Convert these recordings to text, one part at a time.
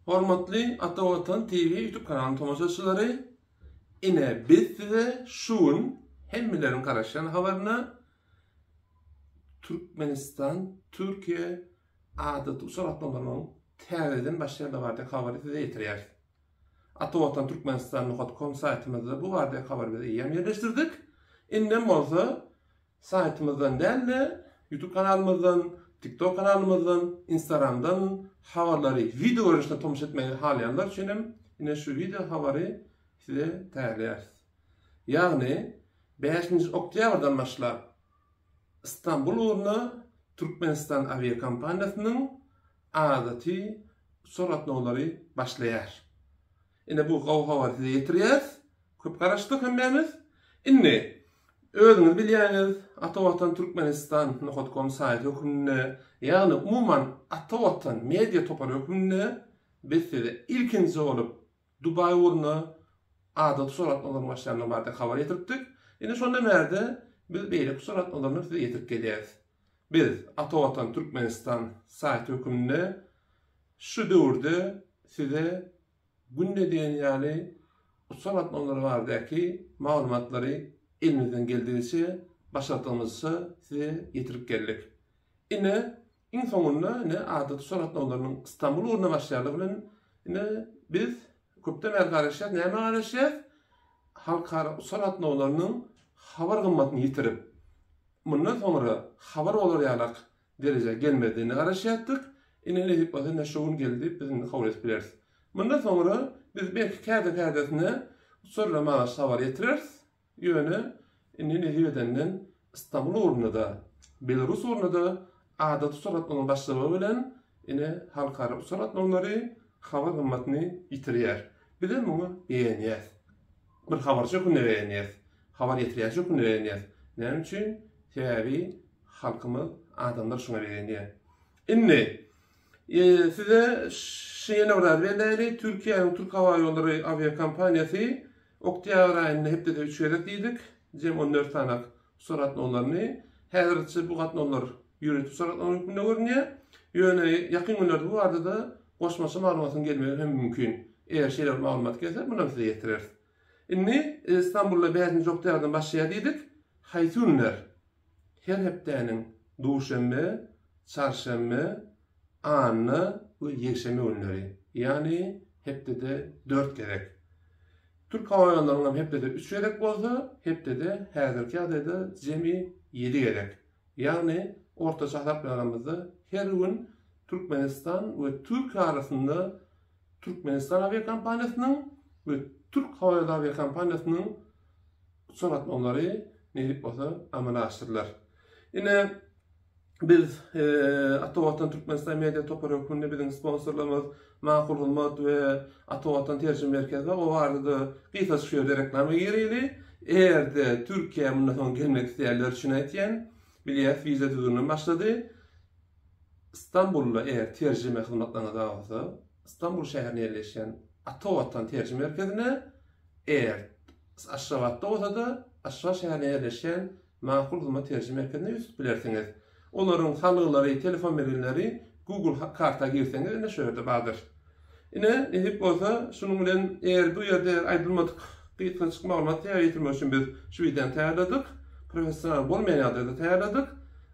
Hormatly Ata Watan TV YouTube kanalynyň tomaşaçylary, ine biz size şu gün hemmeleriň garaşýan habaryna Türkmenistan Türkiýe adaty uçar gatnawlarynyň täzeden başlaýandygy barada habary size ýetirýäris. Ata Watan Türkmenistan nokat kom saýtymyzda bu barada habary biz eýýäm ýerleşdirdik. Indem bolsa Saýtymyzdan däl-de, YouTube kanalymyzdan, TikTok kanalymyzdan, Instagramdan habarlary wideo görnüşinde tomaşa etmegi halaýanlar üçin hem ine şu wideo habary size taýýarlaýarys. Ýagny, bäşinji oktýabrdan başlap Stambul ugruna Türkmenistan awiakompaniýasynyň adaty uçar gatnawlary başlaýar. Ine bu gowy habary size ýetirýäris. Köp garaşdyk hemmämiz. Indi, özüňiz bilýäňiz, Atavatan Türkmenistan nohut kom saýty hökmünde, ýagny umuman Atavatan media topary hökmünde biz size ilkinji bolup Dubaý ugruna adaty surat nazarynyň başlanandygy barada habar ýetiripdik. Indi şondan bärde biz beýleki surat nazaryny size ýetirip gelýäris. Biz, Ata Watan Türkmenistan saýty hökmünde şu döwürde size günde diýen ýaly uçar gatnawlary baradaky maglumatlary elimizden geldigiçe, başardygymyzça size ýetirip geldik. Ine, iň soňunda, ine, adaty uçar gatnawlarynyň Stambul ugruna başlaýandygy bilen, ine, biz Köpden bäri garaşýas, nämä garaşýas? Halkara uçar gatnawlarynyň habar gymmatyny ýitirip, mundan soňra habar bolar ýalak derejä gelmezdigine garaşýardyk. Ine, nesip bolsa, ine şu gün geldi, biz indi kabul edip bileris. Mundan soňra biz belki käte-kätesine uçarlar maňa habar ýetirer, Ýöne indi nesip edenden Stambul ugrunda-da, Belarus ugrunda-da adaty uçar gatnawynyň başlamagy bilen ine halkara uçar gatnawlary habar gymmatyny ýitirýär. Bizem muňa begenýäs. Bir habarçy hökmünde begenýäs. Habar ýetirýäçi hökmünde begenýäs. Näme üçin? Sebäbi halkymyz, adamlar şuňa begenýär. Indi size şuny ýene bir zat belläýeli, Türkiýäniň Türkhawaýollary awiakompaniýasy Oktýabr aýynda hepdede üç gezek diýdik, jem on dört sany uçar gatnawlaryny. Häzirlikçe bu gatnawlar ýörite uçar gatnawy hökmünde görünýär. Ýöne ýakyn günlerde bu barada-da goşmaça maglumatyň gelmegi hem mümkin. Eger şeýle bir maglumat gelse, muny hem size ýetireris. Indi Stambulda bäşinji oktýabrdan başlaýar diýdik. Haýsy günler? her hepdäniň duşenbe, çarşenbe, anna we ýekşenbe günleri, ýagny hepdede dört gezek. Türk howa ýollarynyň hem hepdede üç gezek bolsa, hepdede häzirki ýagdaýda jemi ýedi gezek. Ýagny ortaça hasaplaýanymyzda her gün Türkmenistan we Türkiýe arasynda Türkmenistan awiakompaniýasynyň we Türk howa ýoly awiakompaniýasynyň uçar gatnawlary neýip bolsa amala aşyrylar. Ine biz Atawatan Türkmenistan media topary hökmünde biziň sponsorlarymyz Makul hyzmat we Atawatan terjime merkezi bar. O barada gysgaça şu ýerde reklama gireli. Eger-de Türkiýä mundan soň gelmek isleýänler üçin aýtýan, bilýäs wiza düzgüni başlady. Stambulda eger terjime hyzmatlaryňyz bar bolsa, Stambul şäherinde ýerleşýän Ata Watan terjime merkezine, eger Aşgabatda bolsa-da, Aşgabat şäherinde ýerleşýän Makul hyzmat terjime merkezine ýüz tutup bilersiňiz. Olaryň salgylary, telefon belgileri Google karta girseňiz ine şu ýerde bardyr. Ine, nesip bolsa, şunuň bilen eger bu ýerde aýdylmadyk gysgançyk maglumaty täze ýetirmek üçin biz şu wideony taýýarladyk. Professional bolmaýan ýagdaýda taýýarladyk.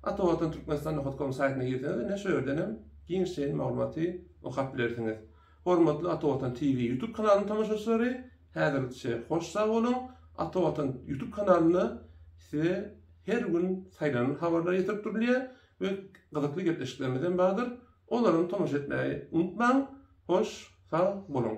Ata Watan Türkmenistan Nohut Komu saýtyna girseňiz, ine, şu ýerden hem giňişleýin maglumaty okap bilersiňiz. Hormatly Ata Watan TV YouTube kanalynyň tomaşaçylary, häzirlikçe hoş sag boluň! Ata Watan YouTube kanalynda size her gün saýlanan habarlar ýetirip durulýar we gyzykly gepleşiklerimiz hem bardyr. Olaram tomaşa etmägi unutmaň, hoş sag boluň.